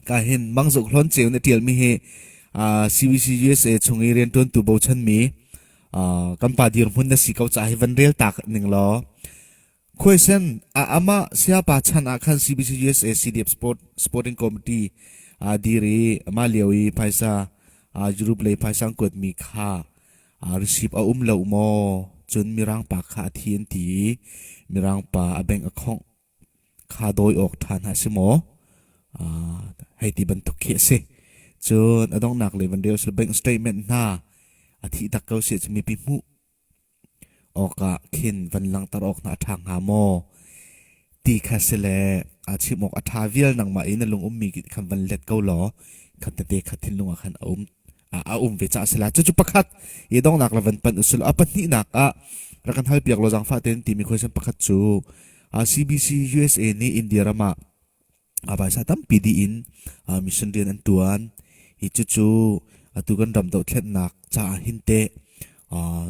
ka hin mangzuk hlon ceu na tialmi hi CBC USA chung i riantuantu bochanmi kan pa dirhmun na si ko ca hi van rel tak ning law question ama siapa chan ah khan CBC USA CDF sport sporting committee dir i ma lio i phaisa Europe lei phaisang kuat mi kha receive a um lo maw cun mirang pa kha a thi an ti mirang pa a bank a khongh kha dawi awk ṭha hna si maw? Uh, hei ti bantuk khi a si. Cun a donghnak le van reu bank statement hna a thih tak ko si cu mipi hmuh awkah khin van langter awk hna a ṭha hnga maw? Ti kha si le a chim awk a ṭha vial nangmah i na lung ummi khan van let ko law khatte te kha thinlung ah khan a um a um ve caah sila cucu pakhat i dongnak la van pan usul a pahnihnak ah rak kan hal piak lo zang fa tein timi question pakhat cu CBC USA nih India ram ah a baisa tampi di in mission rian an tuan i cucu atu kan ram dohthlennak caah hinte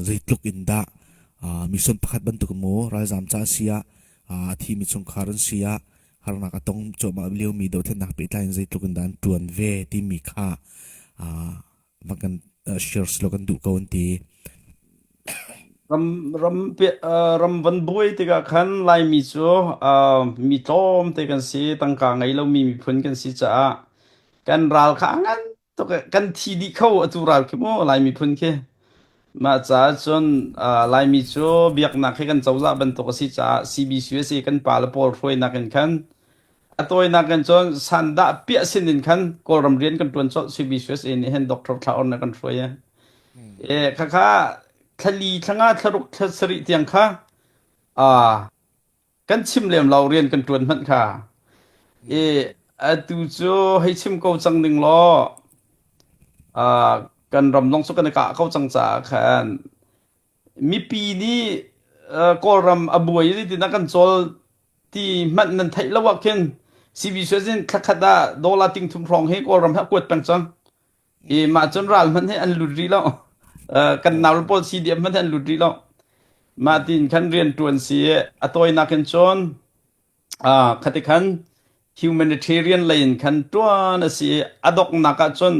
zeitluk in dah mission pakhat bantuk mu ralzam ca sia a thi mi chungkhar an sia harnak a tong cuahmah liomi dothlennak pehtlai in zeitluk in dah an ṭuan ve timi kha van kan shares law kan duh ko an ti ram ram pe ram van buai tikah khan laimi cu mi tlawm te kan si tangka ngei lomi miphun kan si caah kan ral kha a ngan Tok eh, kan thi dih kho atu ral khi mu Lai miphun khi. Mah caah cun uh, Laimi cu biaknak hi kan cozah bantuk a si caah CBCUSA kan pa le pawl hruainak in khan a tawinak in cun sandah piah sin in khan Kawlram rian kan tuan cawlh CBCUSA nih hen Dr. Thla Or ne kan hruai eh. E khakha thali thlanga tharuk thasari tiang kha a kan chim lem lo rian kan ṭuan hmanh kha. I atu cu hei chim ko cang ding law uh, kan ram dong cu kan i kah ko cang caah khan mipi nih uh, kawlram a buai tinak kan cawl ti hmanh nan theih lo ah khin CB suazin thlakhat ah dollar ting thum hrawng hi kawlram hi a kuat peng cang i mah cun ral hmanh hi an lut rih lo kan nau pawl si diam hmanh hi an lut rih lo mah tin khan rian ṭuan si i a tawinak in cun khati khan humanitarian lei in khan ṭuan a si i a donghnak ah cun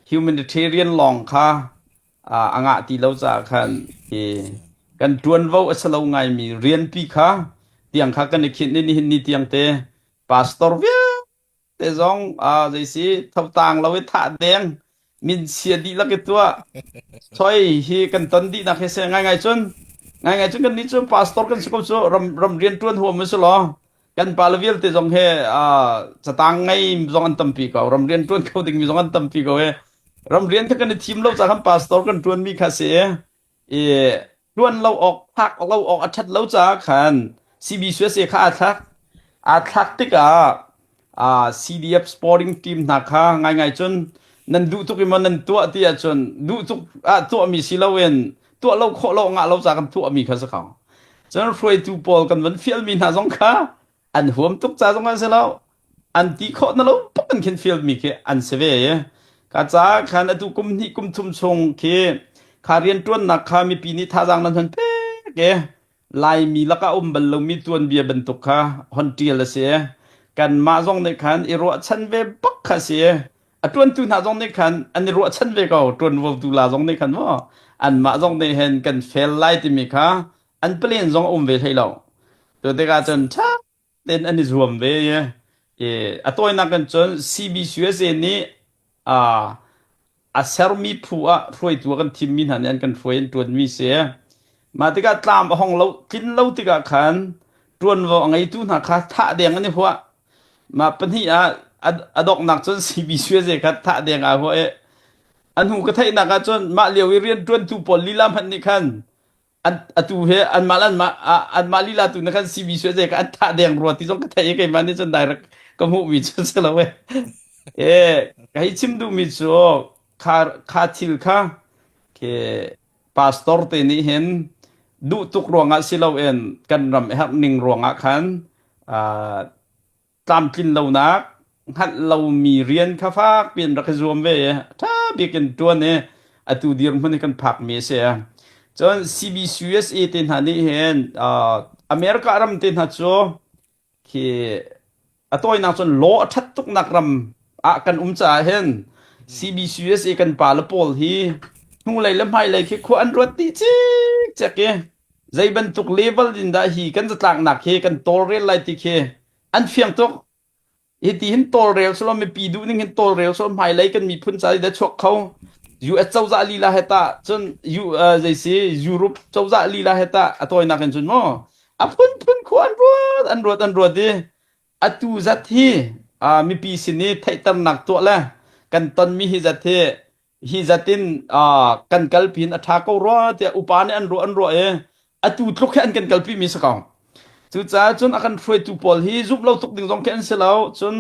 humanitarian lawng kha a ngah ti lo caah khan i kan ṭuanvo a si lo ngaimi rianpi kha tiang kha kan i khinh i nihin ni tiang te pastor vialte Te zong ah zeisi thotaang lo i thah deng min sia dih lak i tuah choi hi kan ton dihnak hi se ngaingai cun ngaingai cun kannih cu pastor kan si ko cu ram ram rian ṭuan huam a si law kan pa le vialte zong he uh, cataang ngei zong an tampi ko ram rian ṭuan kho dingmi zong an tampi ko i ram rian kha kan i thim lo caah kan pastor kan ṭuanmi kha si i ṭuan lo awk phak lo awk a ṭhat lo caah khan CB Suese kha aa thlak. Aa thlak tikah aa CDF sporting team hna kha ngaingai cun nan duh tuk i maw nan tuah ti ahcun duh tuk ah tuahmi si loin tuah lo khawh lo ngah lo ca kan tuahmi kha si ko. Cun hruaitu pawl kan van fialmi hna zong kha an huam tuk ca zong an si lo. an ti khawh na lo tuk kan khin field mi khi an si ve i ka caah khan atu kum hnih kum thum chung khi kha riantuannak kha mipi nih thazaang nan hon pek i laimi lakah um bal lomi tuanbia bantuk kha hon tial a si i kanmah zong nih khan i ruahchan ve bak kha si i a tuantu hna zong nih khan an i ruahchan ve ko tuanvotu la zong nih khan maw anmah zong nih hen kan fail lai timi kha an plan zong a um ve hlei lo cu tikah cun tha ten an i zuam ve i a tawinak in cun CBC USA nih a sermi phu ah hruaitu a kan thimmi hna nih an kan hruai in ṭuanmi si. Mah tikah tlam a hong lo tlin lo tikah khan ṭuanvo a ngeitu hna kha thah deng an i huah. Mah pahnih ah a donghnak cun CBC USA kha thah deng aa huah i a hnu ka theihnak ah cun mah lio i rianṭuantu pawl lila hmanh nih khan an atu he anmah an mah anmah lila tu na kan CV su je ka an tha deng rua ti zong ka thei ke man ni chun direct ka mu mi chun se lo we e ka hi chim du mi chu kha kha thil kha ke pastor te ni hen du tuk ruangah si lo en kan ram her ning ruangah khan tlamtlin lonak hngalh lomi rian kha fak piin rak i zuam ve i a ṭha bik in ṭuan i atu dirhmun i kan phakmi a si. Cun CBCUSA te hna nih hin uh, America ram te hna cu khi a tawinak cun law a ṭhat tuknak ram ah kan um caah hin CBCUSA kan pa le pawl hi hnulei le hmailei khi khua an ruat dih cikcek i Zei bantuk level in dah hi kan zatlaknak hi kan tawlrel lai ti khi an fiang tuk. Hiti hin tawlrel solo mipi duh ning hin tawlrel solo hmailei kan miphun ca hi da chuak kho. US cozah lila he tah cun U, uh, zaisi Europe cozah lila he tah a tawinak in cun mu a phunphun khu an ruat an ruat an ruat i atu zat hi uh, mipi sin i theihternak tuah le kan tonmi hi zat hi hi zatin kan kalpi in a ṭha ko rua tiah upa nih an ruah an ruah i atu tluk hi an kan kalpimi si ko cucaah cun a kan hruaitu pawl hi zumh lo tuk ding zong khi an si lo cun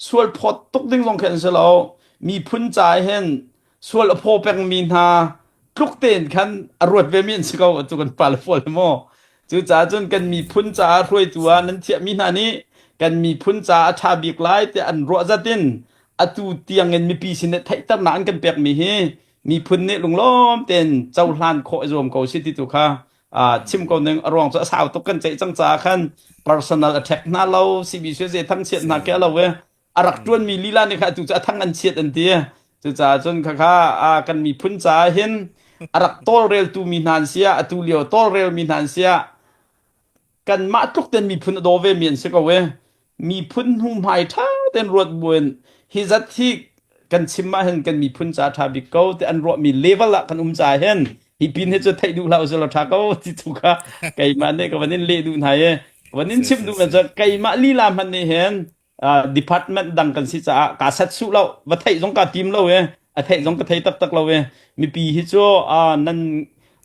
sual phawt tuk ding zong khi an si lo miphun ca hen sual a phaw pengmi hna tluk tein khan a ruat vemi an si ko atu kan pale pawl hi maw Cucaah cun kan miphun caah hruaitu ah nan thiahmi hna nih kan miphun caah a ṭha bik lai tiah an ruah zat in atu tiangin mipi sin i theihternak an kan pekmi hi miphun nih lunglawm tein cohlan khawh i zuam ko si ti tu kha chim ko ning a ruang cu a sau tuk kan ceih cang caah khan personal attack hna lo CBC ze thangchiat hna ke lo e a rak ṭuanmi lila nih khan atu cu a thang an chiat an ti cucaah cun khakha kan miphun caah hin a rak tawlreltu mi hna an si ah atu lio tawlrelmi hna an si ah kanmah tluk ten miphun a daw ve mi an si ko e miphun hnuhmai ṭha ten ruat buin hi zat hi kan chim ah hin kan miphun ca ṭha bik ko te an ruahmi level ah kan um ca hin hi pin hi cu theih duh hlah usih law ṭha ko ti tu kha keimah nih ka van in leh duh hna i van in chim duh na cu keimah lila hman nih hin uh, department dang kan si caah ka set su lo va theih zong ka tim lo e a theih zong ka thei tak tak lo e mipi hi chu uh, nan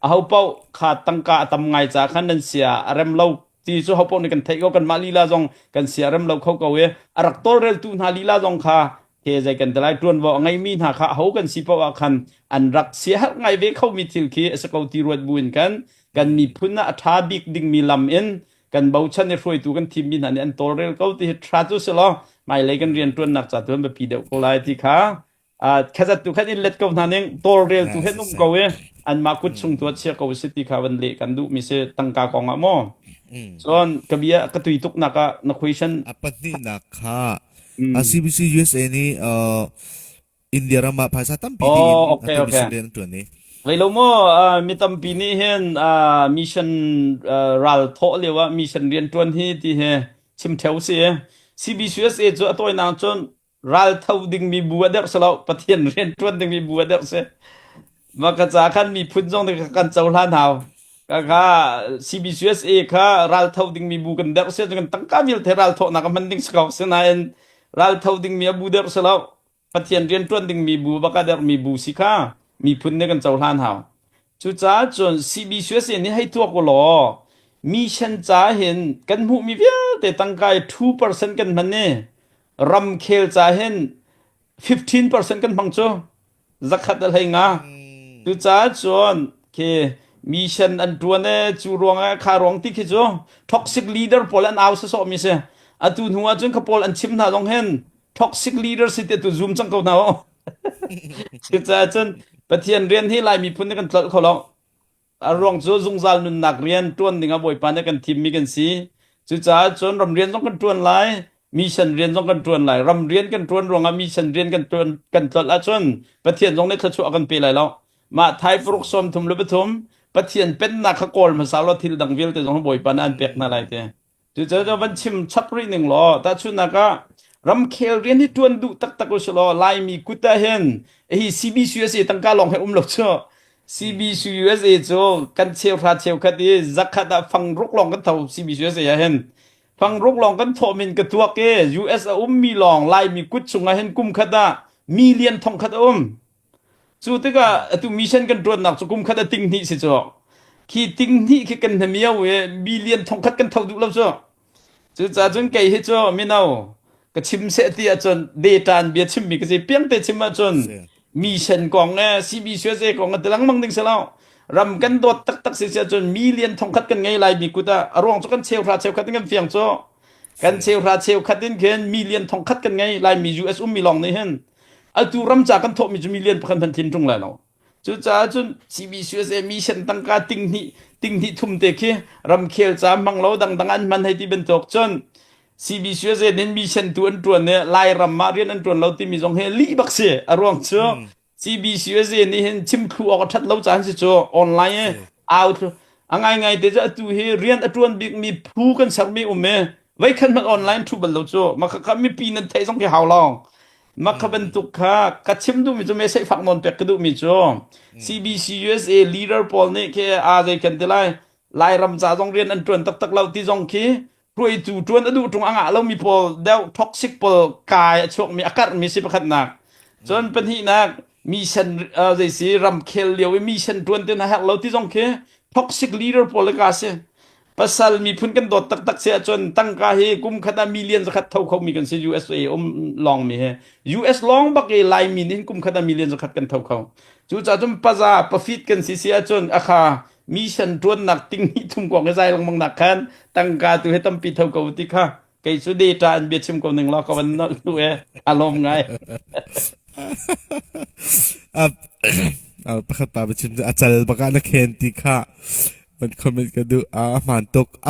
a ho pau kha tangka a tam ngai ca khan nan sia a rem lo ti chu ho pau ni kan theih ko kan mah lila zong kan sia rem lo kho ko e a rak tol rel tu hna lila zong kha he zai kan dalai tuan wa ngai mi hna kha ho kan si pa wa khan an rak sia har ngai ve kho mi thil khi a se ko ti ruat buin kan kan mi phun a tha bik ding mi lam in kan bochan i hruaitu kan thimmi hna nih an tawlrel ko ti hi ṭha cu si law hmailei kan rianṭuannak ca tu an biapi deuh ko lai ti kha khatzat tu khan in let ko hna ning tawlreltu he nung ko i anmah kut chung tu chia ko si ti kha van leh kan duh mi si tangka kong ah maw cun ka bia ka tui tuk nak ah na question a pahnihnak kha a CBC USA nih India ram ah phaisa tampi oh, ding in okay, atu mission okay. rian an tuan i Vei lo mo uh, mi tampi nih hin uh, mission uh, ral thaw lio ah mission rian tuan hi ti he chim theo si CBCUSA cu a toy nang chun ral tho ding mi bu ader selo pathian rian tuan ding mi bu ader se ma ka cha khan mi phun jong de kan chau hlan hau ka kha CBCUSA kha ral tho ding mi bu kan der se kan tangka mil the ral tho na ka man ding sakau se na en ral tho ding mi abu der selo Pathian rianṭuan dingmi bu bak a dermi bu si kha miphun nih kan cohlan hau. Cucaah cun CBCUSA nih hei tuak u law mission ca hin kan hmuhmi vialte tangka i 2% kan hman i ramkhel ca hin 15% kan hmang cu zakhat a hlei nga. Cucaah cun khi mission an ṭuan e cu ruangah kha ruang ti khi cu toxic leader pawl an au sasawhmi si. Atu hnu ah cun kha pawl an chim hna zong hin toxic leader si te tu zoom cang ko na o cucaah cun pathian rian hi lai miphun ne kan tlal kho lo a ruang cu zungzal nunnak rian tuan ding a bawipa ne kan thim mi kan si cucaah cun ram rian zong kan tuan lai mission rian zong kan tuan lai ram rian kan tuan ruangah mission rian kan tuan kan tlol ahcun pathian zong nih thluachuah kan pe lai lo mah thai puruk som thum le pathum pathian pennak kha kawl hmasa lo thil dang vialte zong bawipa ne an pek hna lai te Cucaah van chim chap rih ning law tahchunhnak ah ramkhel rian hi ṭuan duh taktak u silaw Laimi kut ahhin hi CBCU a si tangka lawng hi um lo cu CBCU USA cu kan cheuhra cheukhat i zakhat ah fang ruk lawng kan tho CBCU USA ahhin fang ruk lawng kan thawh min ka tuak i US a ummi lawng Laimi kut chungah hin kum khat ah million thong khat a um Cu tikah atu mission kan ṭuannak cu kum khat a tinghnih si cu. Khi tinghnih khi kan hnamio i million thongkhat kan tho duh lo cu. Cucaah cun kei hi cu mino ka chim seh ti ahcun deṭan bia chimmi ka si. Piangte chim ahcun mission kong le CBCUSA kong ah ti lengmang ding si lo. Ram kan dawt taktak si si ahcun million thongkhat kan ngei lai mi kut ah a ruang cu kan cheuhra cheukhat in kan fiang cu. Kan cheuhra cheukhat in khin million thongkhat kan ngei lai mi US ummi lawng nih hin atu ramca kan thawhmi cu million pakhat hmanh thin tung lai lo cucaah cun CBCUSA mission tangka tinghnih tinghnih thumte khi ramkhel ca manglo dangdang an hman hei ti bantuk cun CBCUSA nin mission tu an tuan i Lairam ah rian an tuan lo timi zong hi li bak si a ruang cu CBCUSA nih hin chimthlu awk a that lo caan si cu online i au a ngai ngai te cu atu hi rian a tuan bikmi phu kan sermi um i Voikhat na online thu bal lo cu maka ka mipi nan theih zong khi hau lo maka hmm. bantuk kha ka chim duhmi cu message fak non pek ka duhmi cu CBC USA leader pawl nih ke a zei kan ti lai lai ram ca zong rian an tuan tak tak lo ti zong khi ruaitu tuan a duh tung anga lomi pawl deu toxic pawl kai a chuak mi a karh mi si pakhat nak cun pahnih nak mission zei si ram khel lio i mission tuan te na her lo ti zong khi toxic leader pawl le ka si pasal miphun kan dawt taktak se ahcun tangka hi kum khat ah million zakhat tho kho mi kan si USA um lawng mi hi US lawng bak i Laimi nih kum khat ah million zakhat kan tho kho cu cahcun paza profit kan si si ahcun akha mission tuannak ting hi thum kong hi zai longmang nak khan tangka tu he tampi tho ko ti kha kei cu data an bia chim ko ning law ka van nu e a lawm ngai pakhat pa bachin a chal baka na khen ti kha man comment ka du a hman tuk a